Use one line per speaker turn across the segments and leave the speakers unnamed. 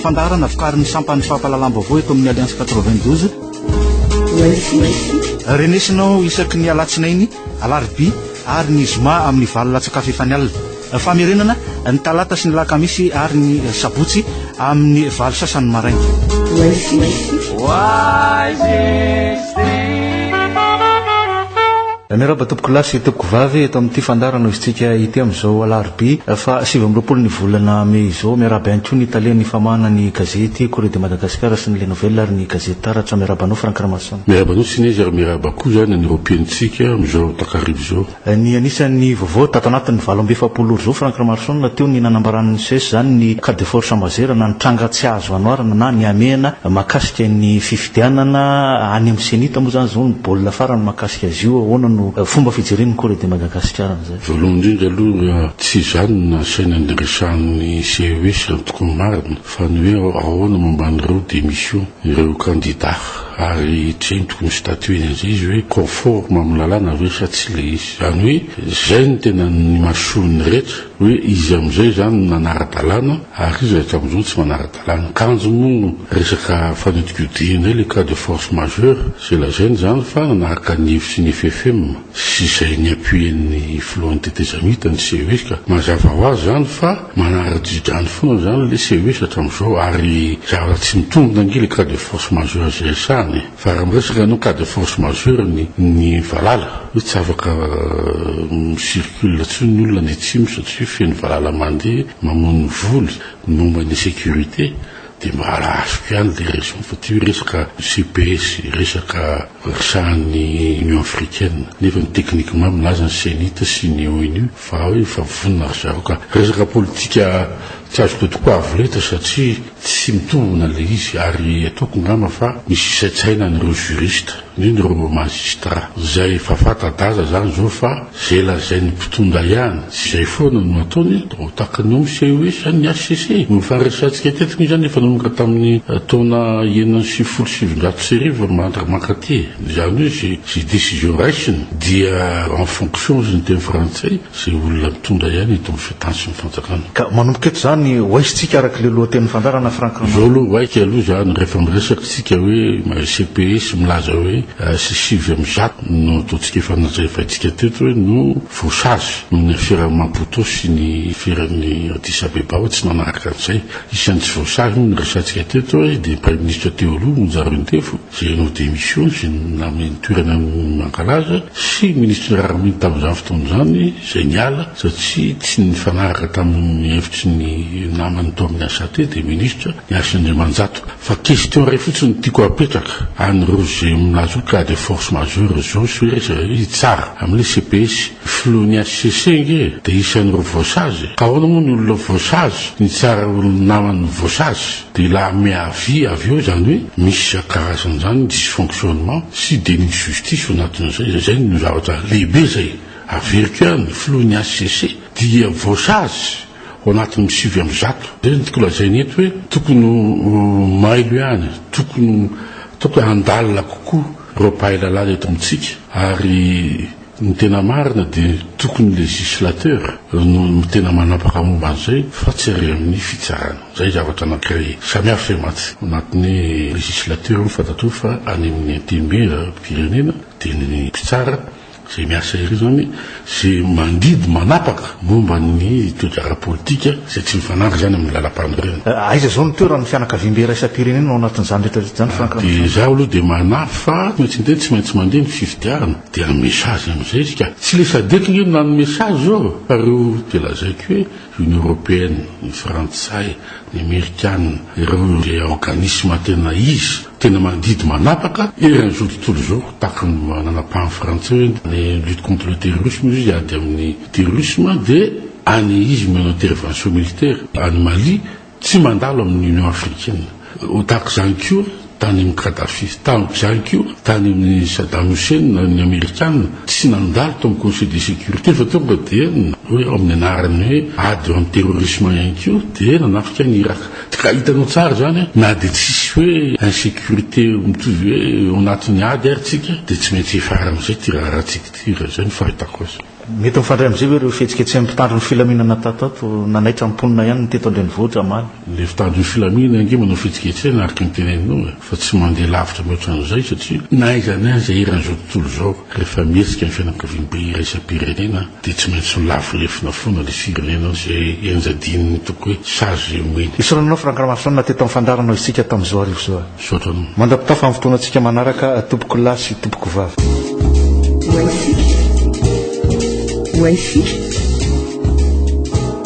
Fandaharana vokarin'ny sampan'ny fampahalalam-baovao eto amin'ny Alliance 92. Renesinao isaky ny alatsinainy, alarobia ary ny zoma amin'ny valo latsakafo efa ny alina. Famerenana ny talata sy ny lakamisy ary ny sabotsy amin'ny valo sasany maraina. Miarahaba tompoko lahy sy tompoko vavy eto amin'ity fandarana izintsika ity amin'izao alarobia fa sivy amby roapolo ny volana mey izao. Miarahaba ihany koa ny tale ny famahana ny gazety Corée de Madagascar sy ny Le Nouvel ary ny gazety Taratra. Miarahaba anao Franck Ramason. Miarahaba anao Tsines ary
miarahaba koa izany an'ireo mpihaino antsika amin'izao takariva izao. Ny anisan'ny
vaovao tato anatin'ny valo amby efapolo ora izao, Franck Ramarison, teo ny nanambaran'ny ces izany ny cas de force Ambazera na ny tranga tsy azo anoarana na ny hamehana mahakasika ny fifidianana any amin'ny Cenit moa izany izao ny baolina farany mahakasika azy io, ahoana no fomba fijeren'ny Corée de Madagascar an'izay? Voalohany indrindra aloha
tsy izany no nasaina nandresahan'ny ces antoko marina fa ny hoe ahoana momba an'ireo démission ireo candidats. Ary trintiko ny statut ny ankizy hoe conforme amin'ny lalàna ve sa tsy ilay izy. Izany hoe izay no tena ny mason'ny rehetra hoe izy amin'izay izany no nanara-dalàna ary iza eto amin'izao no tsy manara-dalàna. Kanjo moa resaka fanodinkodinana ilay cas de force majeure izay lazaina izany fa nanaraka ny hevitry ny FFM. sy izay niapuien'ny filohan'ny tetezamita ny CES ka mazava ho azy izany fa manara-dridrano foana izany ilay CES hatramin'izao ary zavatra tsy mitombina ange ilay cas de force majeure izay resahana e! fa raha miresaka ianao cas de force majeure ny ny valala hoe tsy afaka mi-circule intsony ny olona any atsimo satria feno valala mandeha mamono voly ny momba ny sécurité Dia mahazo ihany ilay raison fa ity hoe resaka CPS, resaka resahan'ny Union africaine, nefa ny techniquement milaza ny cenit sy ny onu fa hoe efa vonona ry zareo ka. Resaka politika tsy azo todiko avo lenta satria tsy mitombina ilay izy ary ataoko ngamba fa misy isaintsaina an'ireo juristes. Indrindra ireo Magistrat izay efa fata-daza izany izao fa izay lazain'ny mpitondra ihany tsy izay foana no ataony dia ho takany ao miseho hoe izany ny HCC. Ny faharesahantsika teto moa izany efa nanomboka tamin'ny taona enina amby sivifolo sy sivinjato sy arivo mandra mankaty. Izany hoe izay décision raisina dia en fonction ozy ny teny frantsay. Izay olona mitondra ihany eto amin'ny fitany sy ny fanjakana. Ka manomboka eto izany
ho aisintsika araka ilay lohatenin'ny fandaharana Franck Rama. Izao aloha waika aloha
izany rehefa miresaka isika hoe CPS milaza hoe sy sivy amby zato no ataontsika efa nanjaivaintsika teto hoe no voasazy noho ny aferan'i Maputo sy ny aferan'i Addis Abeba hoe tsy nanaraka an'izay. Isan'ny tsy voasazy moa no resahantsika teto hoe dia ny Praiminisitra teo aloha Monjarintefo. izay nanao démission sy nanome ny toerana ny mankalaza sy ny ministry ny raharaham-bahiny tamin'izany fotoana izany izay niala satria tsy nifanaraka tamin'ny hevitry ny namany tao amin'ny ACT dia ministra ny Hasina Andriamanjato. Fa question iray fotsiny no tiako hapetraka an'ireo izay milaza hoe cas de force majeure izao sy hoe iza hitsara amin'ilay CPS. Ny filohan'ny HCC ange dia isan'ireo voasazy. Ka ahoana moa ny olona voasazy no hitsara olona namany voasazy? Dia la met à vie avy eo izany hoe misy isan-karazany izany ny dysfonctionnement sy déni de justice ao anatin'izay. Izay no zavatra lehibe izay averiko ihany, filohan'ny hcc dia voasazy ao anatin'ny sivy amby zato. Izay no tiako lazaina eto hoe tokony ho mailo ihany, tokony ho ataoko hoe handalina kokoa ireo mpahay lalàna eto amintsika ary. Ny tena marina dia tokony legislateur no tena manapaka momba an'izay fa tsy ary amin'ny fitsarana. Izay zavatra anankiray samihafa e mantsy. Ao anatin'ny legislateur moa fantatrao fa any amin'ny antenimieram-pirenena dia ny mpitsara izay miasa ery izany izay mandidy manapaka momba ny toetra ara-politika izay tsy mifanandry izany amin'ny lalam-panorenana. Aiza izao ny toeran'ny
fianakaviambe iraisam-pirenena ao anatin'izany rehetra rehetra izany Franck Ramatoa? Dia izaho aloha dia
manampy fa tsy maintsy miteny tsy maintsy mandeha ny fifidianana. Dia ny message amin'izay izy ka. Tsy ilay Sadec ange no nanome sazy izao fa ireo dia lazaiko hoe Union Européenne, ny Frantsay, ny Amerikana, ireo ilay organisme tena izy, tena mandidy manapaka eran'izao tontolo izao tahaka ny nanapahany Frantsay hoe ny lutte contre le terrorisme izy ady amin'ny terrorisme dia any izy manao intervention militaire any Mali, Tsy mandalo amin'ny Union africaine. Ho tahaka izany koa tany amin'ny Kadhafi. Tahaka izany koa tany amin'ny Saddam Hussein ny Amerikana. Tsy nandalo tao amin'ny Conseil de sécurité fa tonga dia hoe ao amin'ny anaran'ny hoe ady eo amin'ny terrorisme ihany koa dia nanafika an'i Irak. Ka hitanao tsara izany na dia tsisy hoe insécurité mitovy hoe ao anatin'ny ady ary tsika dia tsy maintsy hiafara amin'izay ity raharahantsika ity raha izay no fahitako azy. Mety
mifandray amin'izay ve ireo fihetsiketsehan'ny mpitandro ny filaminana tato ato? Nanaitra ny mponina ihany ny teto an-drenivohitra omaly. Ilay mpitandro ny
filaminana ange manao fihetsiketsehana araka ny teneninao e! Fa tsy mandeha lavitra mihoatra an'izay satria na aiza na aiza eran'izao tontolo izao rehefa mihetsika ny fianakaviam-be iraisam-pirenena dia tsy maintsy lavo lefona foana ilay firenena izay enjadian'ny toko hoe sazy omeny. Esorananao Franck Ramasoanina
teto amin'ny fandaharanao isika tamin'izao arivo izao. Misaotra anao. Mandra-pitafa
amin'ny fotoanantsika
manaraka tompoko lahy sy tompoko vavy. Wifi. Wifi.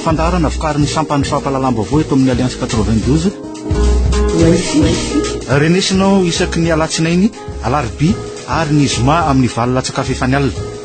Fandaharana vokarin'ny sampan'ny fampahalalam-baovao eto amin'ny Alliance 92. Wifi. Renesinao isaky ny alatsinainy, alarobia ary ny zoma amin'ny valo latsak'afo efa ny alina.